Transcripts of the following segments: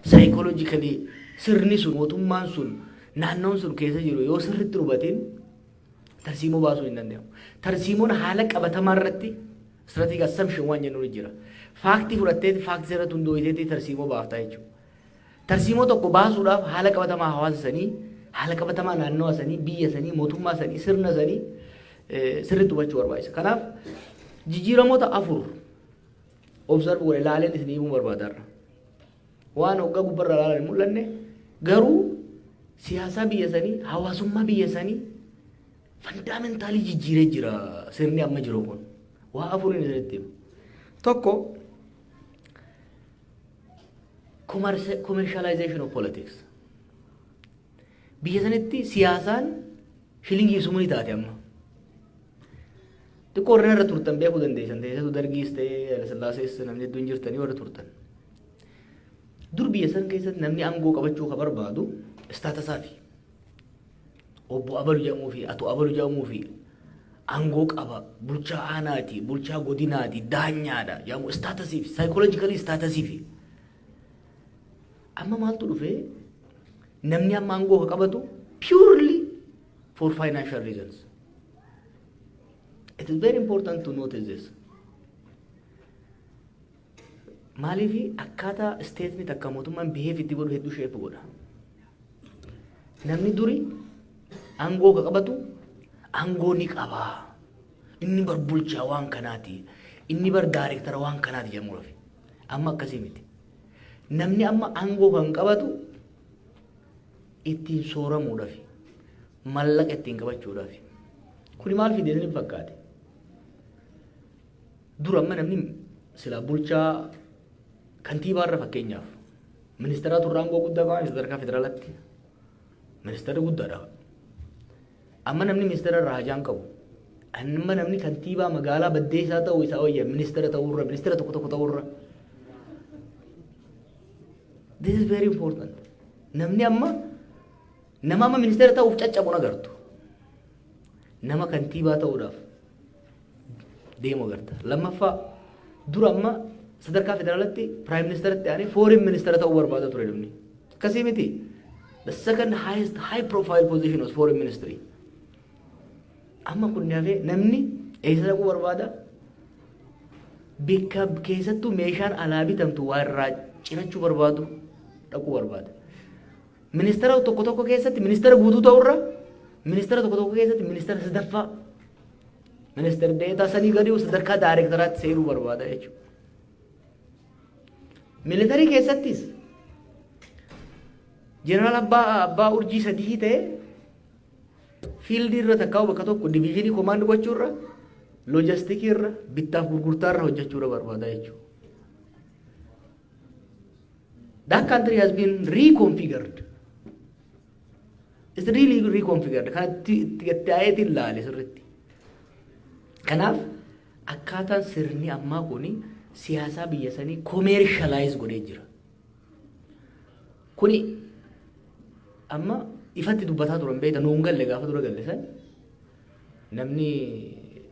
psychologically sirni sun mootummaan sun naannoon sun keessa jiru yoo sirritti hubatiin tarsiimoo baasuu hin danda'amu. Tarsiimoon haala qabatamaa irratti strategic assumption waan jennu jira. Faaktii fudhattee faaktii irratti hundooyiteetti tarsiimoo baaftaa jechuudha. Tarsiimoo tokko baasuudhaaf haala qabatamaa hawaasa sanii, haala qabatamaa naannawa sanii, biyya sanii, mootummaa sanii, sirna sanii sirritti hubachuu barbaachisa. Kanaaf jijjiiramoota afur observe godhe laaleen isin himuu barbaada har'a. Waan hoggaa gubbarra laalan hin mul'anne garuu siyaasaa biyya sanii hawaasummaa biyya sanii fandaamintaalii jijjiiree jira sirni amma jiru kun. Waa afuriin isinitti hima. Tokko commerce- commercialization of politics. Biyya sanitti siyaasaan shilingii sumuni taate amma. Xiqqoo warreen irra turtan beekuu dandeessan teessatu dargiis ta'ee Hayilasillaasee namni hedduun jirtanii warra turtan. Dur biyya san keessatti namni aangoo qabachuu ka barbaadu istaatasaa fi obbo Abalu jedhamuu fi Ato Abalu jedhamuu fi aangoo qaba bulchaa aanaati bulchaa godinaati daanyaadha jedhamu istaatasiif saayikooloojikalii istaatasiif. Amma maaltu dhufee namni amma aangoo ka qabatu purely for financial reasons. It is very important to notice this. Maaliif akkaataa isteetni takka mootummaan biheef itti godhu hedduu sheepu godha. Namni duri aangoo ka qabatu aangoo ni qaba. Inni bar bulchaa waan kanaati. Inni bar daayirektara waan kanaati jedhamu rafi. Amma akkasii miti. Namni amma aangoo kan qabatu ittiin sooramuudhaaf, mallaqa ittiin qabachuudhaaf. Kuni maal fide isin fakkaate? Dura amma namni silaa bulchaa kantiibaarra fakkeenyaaf ministeeraa turre aangoo guddaa qaban sadarkaa federaalatti ministeerri guddaadha. Amma namni ministeera irraa hajaan qabu. Amma namni kantiibaa magaalaa baddeessaa ta'uu isaa wayya ministeera ta'uurra ministeera tokko tokko ta'uurra. This is very important. Namni amma nama amma ministeera ta'uuf caccabu agartu. Nama kantiibaa ta'uudhaaf deemu agarta. Lammaffaa dura amma sadarkaa federaalatti piraayim ministeeratti aanee fooriin ministeera ta'uu barbaada ture namni. Akkasii miti. The second highest high profile position was foreign ministry. Amma kun hafee namni eessa dhaquu barbaada? Bikka keessattuu meeshaan alaa bitamtu waa irraa cirachuu barbaadu dhaquu barbaada. Ministeera tokko tokko keessatti ministeera guutuu ta'urra ministeera tokko tokko keessatti ministeera sadaffaa ministeera deetaa sanii gadi sadarkaa daayirektaraatti seenuu barbaada jechuudha. Militarii keessattis jeneraal abbaa abbaa urjii sadii ta'e Fiildii irra takkaa'uu bakka tokko diviizhinii komaand gochuu irra loojastikii irra bittaaf gurgurtaa irra hojjechuu irra barbaada jechuudha. That country has been reconfigured. It's really reconfigured. Kan itti itti itti aayeetiin laale sirriitti. Kanaaf akkaataan sirni ammaa kun siyaasaa biyya sanii komeershaalaayiz godhee jira. Kuni amma ifatti dubbataa turan beekta nuun galle gaafa dura galle san namni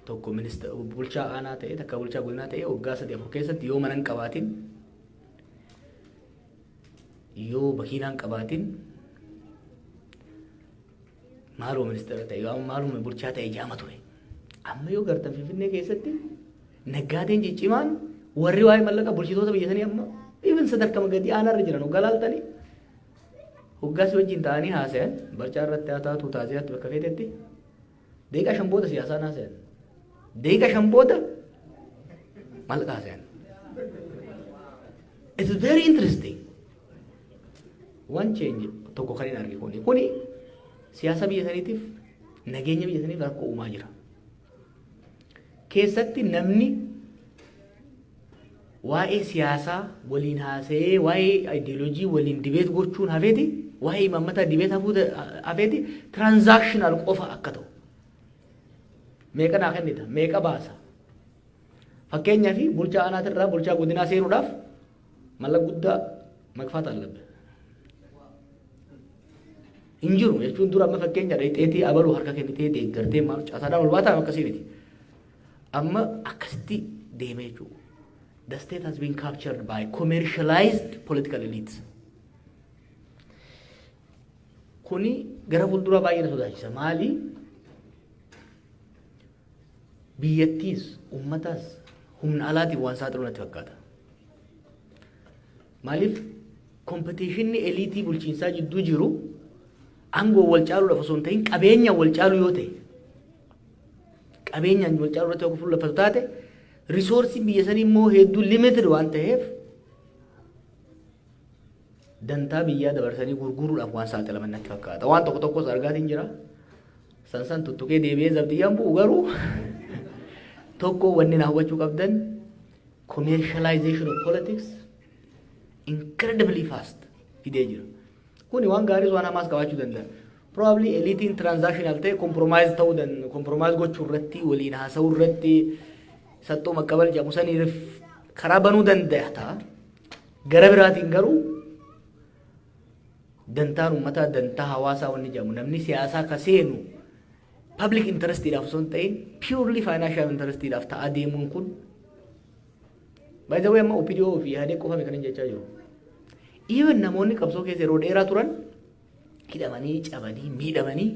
tokko minista bulchaa aanaa ta'e takka bulchaa godinaa ta'e waggaa sadii afur keessatti yoo mana hin qabaatin yoo makiinaa hin qabaatin Maaloo ministeera ta'e yoo maaluma bulchaa ta'e jaama ture. Amma yoo gartan Finfinnee keessatti naggaadeen ciccimaan warri waa'ee mallaqa bulchitoota biyya sanii amma ibin sadarkama gadi aanaarra jiran hoggaa laaltanii hoggaas wajjin ta'anii haasayan barcaa irratti haa taatu taaziyaatti bakka feetetti deeqaa shan booda siyaasaan haasayan deeqaa shan booda mallaqa haasayan. It's very interesting. Waan change tokko kan hin arge kuni. Kuni siyaasa biyya saniitiif nageenya biyya saniif rakkoo uumaa jira. Keessatti namni waa'ee siyaasaa waliin haasa'ee waa'ee ideoloojii waliin dibeet gochuun hafeeti waa'ee imaammataa dibeet hafuu hafeeti transactional qofa akka ta'u. Meeqa naa kennita? Meeqa baasa? Fakkeenyaaf bulchaa aanaatirraa bulchaa godinaa seenuudhaaf Mallaq guddaa maqfaat allabbe. Hin jiru jechuun dura amma fakkeenya dheexeetii abaluu harka kennitee deeggartee maal caasaadhaan ol baataa akkasii miti. Amma akkasitti deemee jechuudha. The state has been captured by commercialized political elites. Kuni gara fuulduraa baay'ee na sodaachisa. Maali? Biyyattiis, ummataas humna alaatiin waan saaxilu natti fakkaata. Maaliif kompetiishinni eliitii bulchiinsaa jidduu jiru aangoo wal caaluudhaaf osoo hin ta'in qabeenyaan wal caaluu yoo ta'e qabeenyaan wal caaluu irratti yoo fuulleffatu taate risoorsiin biyya sanii immoo hedduu limited waan ta'eef dantaa biyyaa dabarsanii gurguruudhaaf waan saaxilaman natti fakkaata. Waan tokko tokkos argaatiin jira. San san tuttuqee deebi'ee zabxiyyaan bu'u garuu tokko wanni na hawwachuu qabdan commercialization of politics incredibly fast fidee jira. Kuni waan gaariis waan hamaas qabaachuu danda'a. Probably eliitiin transactional ta'e compromise ta'uu danda'a. Compromise gochuu irratti waliin haasa'uu irratti saxxoo maqqabal jedhamu saniif karaa banuu danda'a ta'a. Gara biraatiin garuu dantaan uummataa dantaa hawaasaa wanni jedhamu namni siyaasaa ka seenu public interestiidhaaf osoo hin ta'in purely financial interestiidhaaf ta'aa deemuun kun by the way amma OPDO fi Ihadee qofame kan hin jechaa jiru. Even namoonni qabsoo keessa yeroo dheeraa turan hidhamanii cabanii miidhamanii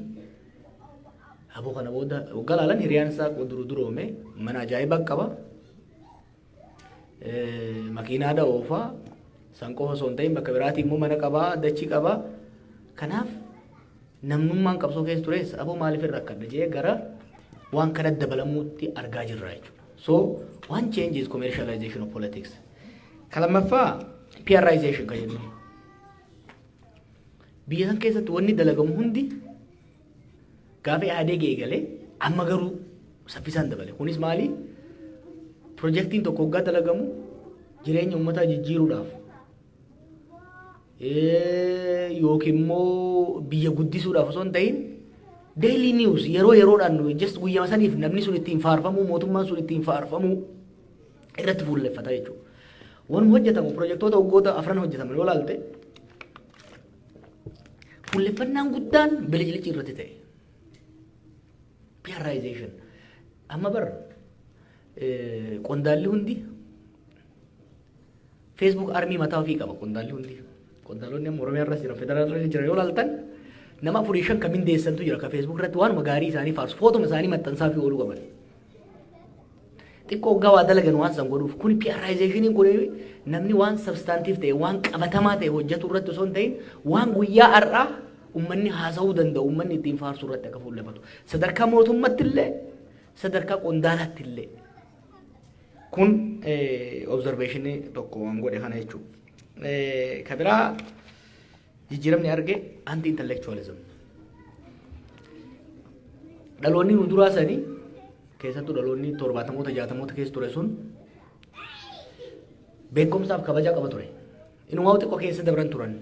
aboo kana booda waggaa laalan hiriyaan isaa duru duroome mana ajaa'ibaa qaba makiinaadha oofaa san qofa osoo hin ta'in bakka biraatii immoo mana qabaa dachii qabaa kanaaf namnummaan qabsoo keessa tures aboo maaliif irra akkadha jee gara waan kana dabalamuutti argaa jirra jechuudha. So one change is commercialization of politics. Ka lammaffaa PRization kan jennu. Biyya san keessatti wanni dalagamu hundi Gaafa Ihaadeeg eegalee amma garuu saffisaan dabale. Kunis maali? Pirojektiin tokko waggaa dalagamu jireenya uummataa jijjiiruudhaaf yookiin immoo biyya guddisuudhaaf osoo hin ta'in daily news yeroo yeroodhaan nu just guyyama saniif namni sun ittiin faarfamuu mootummaan sun ittiin faarfamuu irratti fuulleffata jechuudha. Wanuma hojjetamu pirojektoota waggoota afran hojjetaman yoo ilaalte Fuulleffannaan guddaan bilicilichi irratti ta'e. Piyaraayizeeshin. Amma bar qondaalli hundi Facebook armii mataa ofii qaba qondaalli hundi. Qondaalonni amma Oromiyaa irras jiran federaalaa irras jiran yoo laaltan nama afurii shan kan mindeessantu jira ka Facebook irratti waanuma gaarii isaanii faarsu footuma isaanii maxxansaa fi ooluu qaban. Xiqqoo hoggaa waa dalagan waan san godhuuf. Kun PRizationin kun namni waan substantive ta'e, waan qabatamaa ta'e hojjetu irratti osoo hin ta'in waan guyyaa har'aa ummanni haasa'uu danda'u, ummanni ittiin faarsu irratti akka fuulleffatu. Sadarkaa mootummatti illee, sadarkaa qondaalaatti illee. Kun observationii tokko waan godhe kana jechuudha. Ka biraa Jijjiiramni arge anti intellectualism. Dhaloonni nu duraa sanii keessattuu dhaloonni torbaatamoota jaatamoota keessa ture sun beekumsaaf kabajaa qaba ture. Inumaa xiqqoo keessa dabran turan.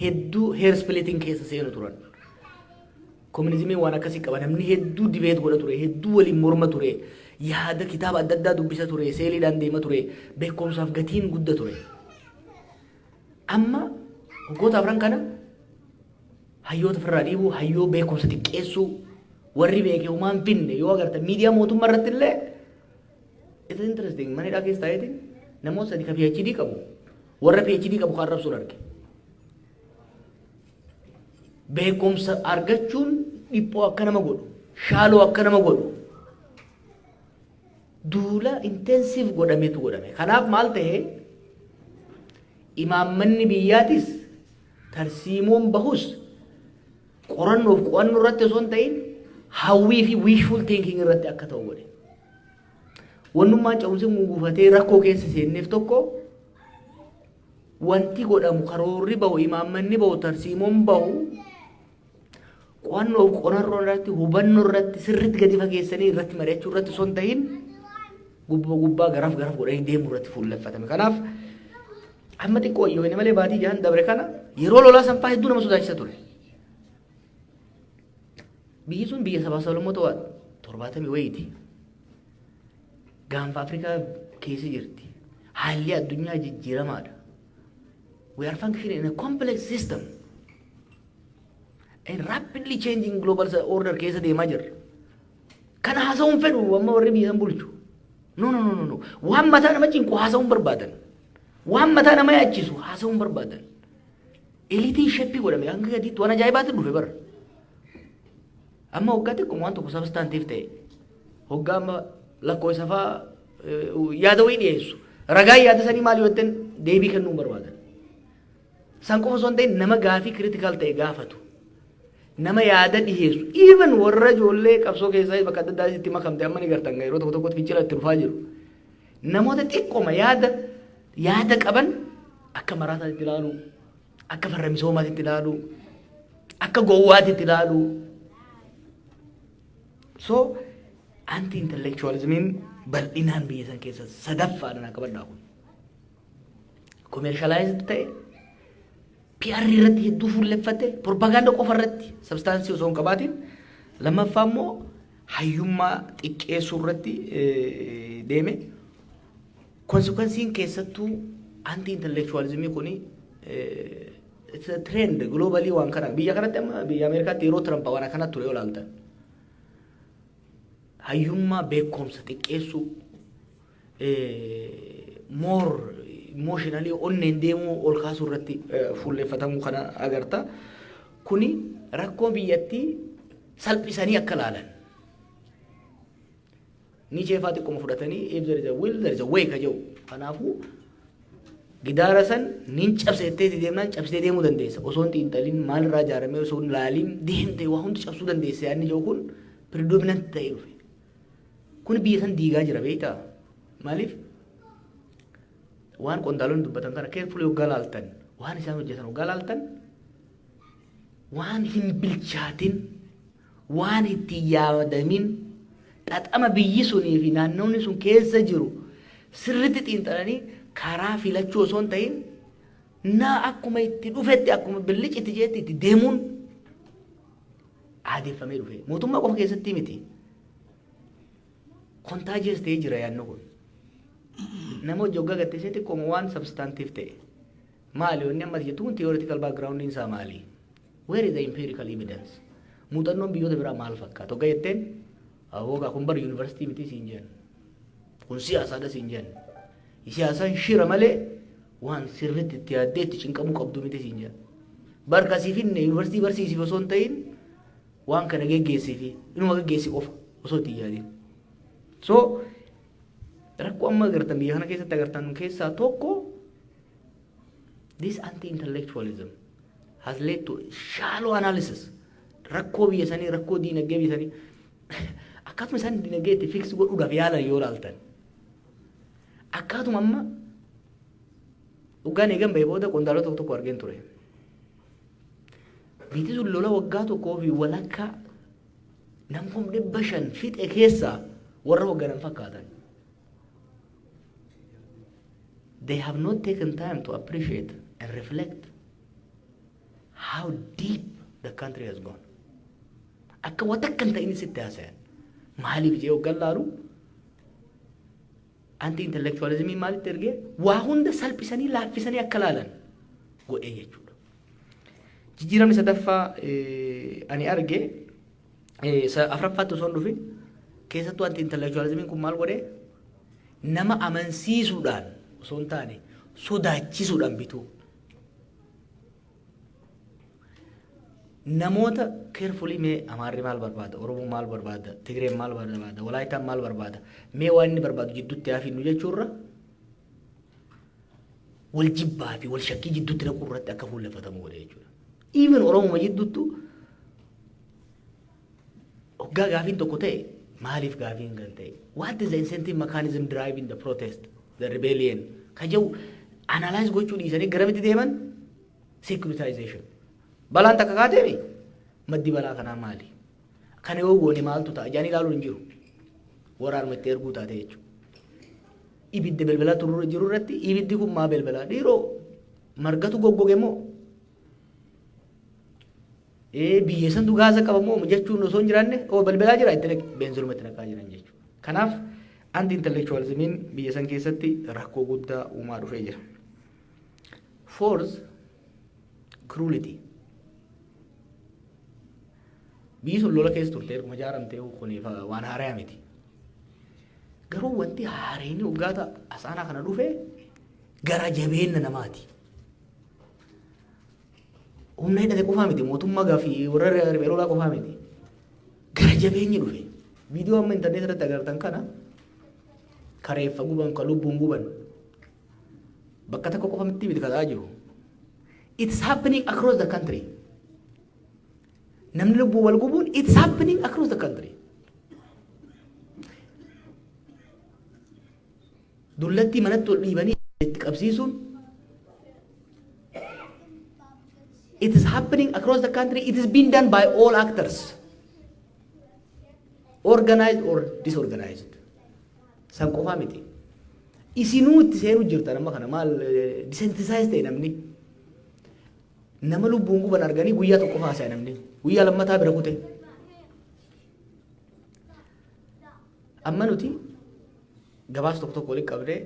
Hedduu heer splitting keessa seenu turan. Kominizimii waan akkasii qaba namni hedduu dibeet godha ture hedduu waliin morma ture yaada kitaaba adda addaa dubbisa ture seeliidhaan deema ture beekumsaaf gatiin gudda ture. Amma waggoota afran kana hayyoota ofirraa dhiibuu, hayyoo beekumsa xiqqeessuu, warri beeke homaa hin finne yoo agartan miidiyaa mootummaa irratti illee it's interesting mana hidhaa keessa taa'eeti namoota sadi ka PhD qabu warra PhD qabu kan arrabsuun arge. Beekumsa argachuun dhiphoo akka nama godhu, shaaloo akka nama godhu duula intensive godhametu godhame. Kanaaf maal ta'e imaammanni biyyaatis tarsiimoon bahus qorannoof qo'annoo irratti osoo hin ta'in hawwii fi wishful thinking irratti akka ta'u godhe. Wannummaan ce'umsi guguufatee rakkoo keessa seenneef tokko wanti godhamu karoorri bahu imaammanni bahu tarsiimoon bahu Qo'annoof qorannoo irratti hubannoo irratti sirriitti gadi fageessanii irratti mari'achuu irratti osoo hin tahin gubbaa gubbaa garaf garaf godhanii deemuu irratti fuulleffatame. Kanaaf amma xiqqoo wayyoone malee baatii jahan dabre kana yeroo lolaa sanfaa hedduu nama sodaachisa ture. Biyyi sun biyya sabaa sablammoota waa torbaatamii wayiiti. Gaanfa Afrikaa keessa jirti. Haalli addunyaa jijjiiramaadha. We are functioning in a complex system. Rapidly changing global order keessa deemaa jirra. Kana haasa'uun fedhu amma warri biyya san bulchu. No no no no waan mataa nama cinqu haasa'uun barbaadan. Waan mataa nama yaachisu haasa'uun barbaadan. Elitiin sheppii godhame hanga gadiitti waan ajaa'ibaatti dhufe bara. Amma waggaa xiqquma waan tokko sabstaantiif ta'e. Hoggaa amma lakkoofsa fa'aa yaada wayii dhiyeessu. Ragaa yaada sanii maal yoo ta'an deebii kennuu barbaadan. San qofa osoo hin ta'in nama gaafii critical ta'e gaafatu, nama yaada dhiheessu, even warra ijoollee qabsoo keessaa bakka adda addaa itti makamte amma ni gartan yeroo tokko tokkotti fincila itti dhufaa jiru. Namoota xiqqoma yaada yaada qaban akka maraataa itti ilaalu, akka farra misoomaatti itti ilaalu, akka gowwaatti itti ilaalu. So anti intellectualismiin bal'inaan biyya san keessa sadaffaadhaan akka bal'aa kun. commercialized ta'e PR irratti hedduu fuulleffate propaganda qofa irratti sabstaansii osoo hin qabaatiin lammaffaa immoo hayyummaa xiqqeessuu irratti deeme konsekwensiin keessattuu anti intellectualizimii kuni trend globally waan kana biyya kanatti amma biyya Ameerikaatti yeroo Tiraamp waan akkana ture yoo ilaaltan hayyummaa beekumsa xiqqeessuu more emotionally onneen deemuu ol kaasuu irratti fuulleffatamuu kana agarta. Kuni rakkoo biyyattii salphisanii akka laalan. Ni jeefaa xiqquma fudhatanii if there is a will there is a way ka jedhu. Kanaafuu gidaara san nin cabsa jettee itti deemnaan cabsitee deemuu dandeessa. Osoo hin xiinxalin maalirraa ijaaramee osoo hin laaliin deemtee waa hundi cabsuu dandeessa yaadni jedhu kun predominant ta'ee dhufe. Kun biyya san diigaa jira beektaa? Maaliif waan qondaalonni dubbatan kana keerfulii hoggaa laaltan waan isaan hojjetan hoggaa laaltan waan hin bilchaatin waan itti yaadamin xaxama biyyi sunii fi naannoonni sun keessa jiru sirritti xiinxalanii karaa filachuu osoo hin ta'in naa akkuma itti dhufetti akkuma billic itti jeetti itti deemuun aadeffamee dhufe. Mootummaa qofa keessatti miti. Kontaajiyees ta'ee jira yaadni kun. Nama hojii hoggaa gatteessee xiqqooma waan sabstaantiif ta'e. Maali wanni ammas jettu kun theoretical background isaa maali? Where is the empirical evidence? Muuxannoon biyyoota biraa maal fakkaata? Hoggaa jetteen hoggaa kun bara yuunivarsiitii miti siin jenna. Kun siyaasaadha siin jenna. Siyaasaan shira malee Waan sirriitti itti yaaddee itti cinqamuu qabdu miti siin jedha. Bar ka si finne yuunivarsiitii barsiisiif osoo hin ta'in waan kana geggeessifi inuma geggeessi qofa osoo itti hin yaadin. So rakkoo amma agartan biyya kana keessatti agartan keessaa tokko this anti-intellectualism has led to shallow analysis. Rakkoo biyya sanii, rakkoo diinagdee biyya sanii akkasuma isaan diinagdee itti fiksi godhuudhaaf yaalan yoo ilaaltan. Akkaatuma amma waggaan eegan bahee booda qondaalota tokko tokko argeen ture. Biitii sun lola waggaa tokkoo fi walakkaa nam kum dhibba shan fixe keessaa warra wagganan fakkaatan. They have not taken time to appreciate and reflect how deep the country has gone. Akka waan takka hin ta'in sitti haasayan. Maaliif jee waggaan laalu Anti intellectualismiin maalitti ergee waa hunda salphisanii laaffisanii akka laalan godhee jechuudha. Jijjiiramni sadaffaa eh, ani arge eh, sa- afraffaatti osoo hin dhufin keessattuu anti intellectualismiin kun maal godhee nama amansiisuudhaan osoo hin taane sodaachisuudhaan bituu. namoota carefully mee amaarri maal barbaada oromoo maal barbaada tigreen maal barbaada walaayitaan maal barbaada mee waan inni barbaadu jidduutti hafiinnu jechuurra wal jibbaa fi wal shakkii jidduutti naquu irratti akka fuulleffatamu godhe jechuudha. Even Oromoo jidduuttu Oggaa gaafiin tokko ta'e maaliif gaafiin kan ta'e? What is the incentive mechanism driving the protest, the rebellion? Ka jedhu analyze gochuu dhiisanii garamitti deeman? Securitization. Balaan takka kaateemi? Maddi balaa kanaa maali? Kana yoo goone maaltu ta'a? Jaanii ilaaluun hin jiru. Waraanuma itti erguu taate jechuudha. Ibidda belbalaa turuu jiru irratti ibiddi kun maa belbalaa? Dhiiroo margatu goggoge moo? Ee biyya santu gaaza qaba moo jechuun osoo hin jiraanne oo balbalaa jira itti naqi beenziluma itti naqaa jiran jechuudha. Kanaaf anti intellectualismiin biyya san keessatti rakkoo guddaa uumaa dhufee jira. Fourth, cruelty. Biyyi sun lola keessa turte erguma ijaaramte kun waan haaraya miti. Garuu wanti haareenii waggaata asaanaa kana dhufe gara jabeenna namaati. Humna hidhate qofaa miti mootummaa gaaffii warra riphee lolaa qofaa miti. Gara jabeenyi dhufe. Viidiyoo amma intarneetii irratti agartan kana ka reeffa guban ka lubbuun guban bakka tokko qofa miti miti ka ta'aa jiru. It's happening across the country. Namni lubbuu wal gubuun it's happening across the country. Dullattii manatti ol dhiibanii itti qabsiisuun it is happening across the country it is being done by all actors organized or disorganized san qofaa miti isinuu itti seenuu jirtan amma kana maal disentisize ta'e namni nama lubbuun guban arganii guyyaa tokko haasa'e namni guyyaa lammataa bira kute amma nuti Gabaasa tokko tokko walitti qabnee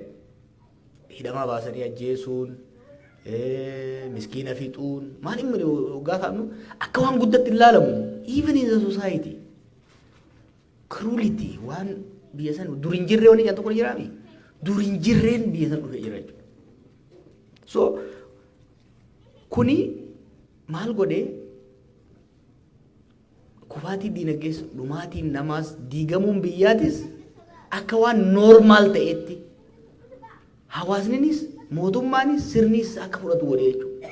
hidhamaa baasanii ajjeesuun, miskiina fixuun maal hin mali hoggaa kaa'amnu akka waan guddatti hin laalamu. Even in the society. Cruelty waan biyya san dur hin jirre waliin tokko jiraa mi? Dur hin jirreen biyya san dhufee jira jechuudha. So kuni maal godhee Kufaatiin diinagdees, dhumaatiin namaas, diigamuun biyyaatis akka waan noormaal ta'etti hawaasninis, mootummaanis, sirniis akka fudhatu godhe jechuudha.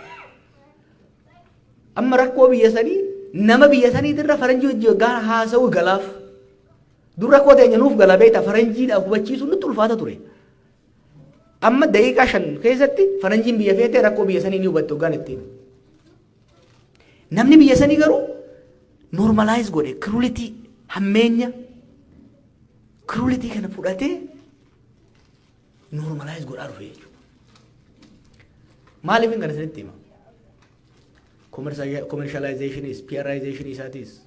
Amma rakkoo biyya sanii nama biyya saniitirra faranjii hojii waggaa haasa'uu galaaf. Dur rakkoo teenya nuuf gala beekta faranjiidhaaf hubachiisuun nutti ulfaata ture. Amma daqiiqaa shan keessatti faranjiin biyya feetee rakkoo biyya sanii ni hubatte waggaan ittiin. Namni biyya sanii garuu normalize godhe kirulitii hammeenya kirulitii kana fudhatee normalize godhaa dhufe jechuudha. Maaliif kana isinitti hima? Commercialization is, PRization isaatis,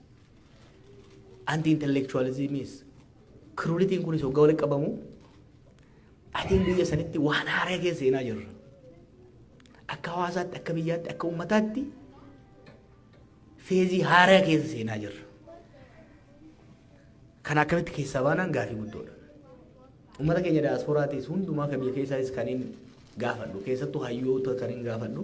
anti-intellectualism is, kirulitiin kunis hoggaa walitti qabamu, atiin biyya sanitti waan haaraa keessa seenaa jirra. Akka hawaasaatti, akka biyyaatti, akka uummataatti feezii haaraa keessa seenaa jirra. Kana akkamitti keessaa baanaan gaafii guddoodha. Uummata keenya daasporaatis hundumaa kan biyya keessaatis kan hin gaafadhu keessattuu hayyoota kan hin gaafadhu.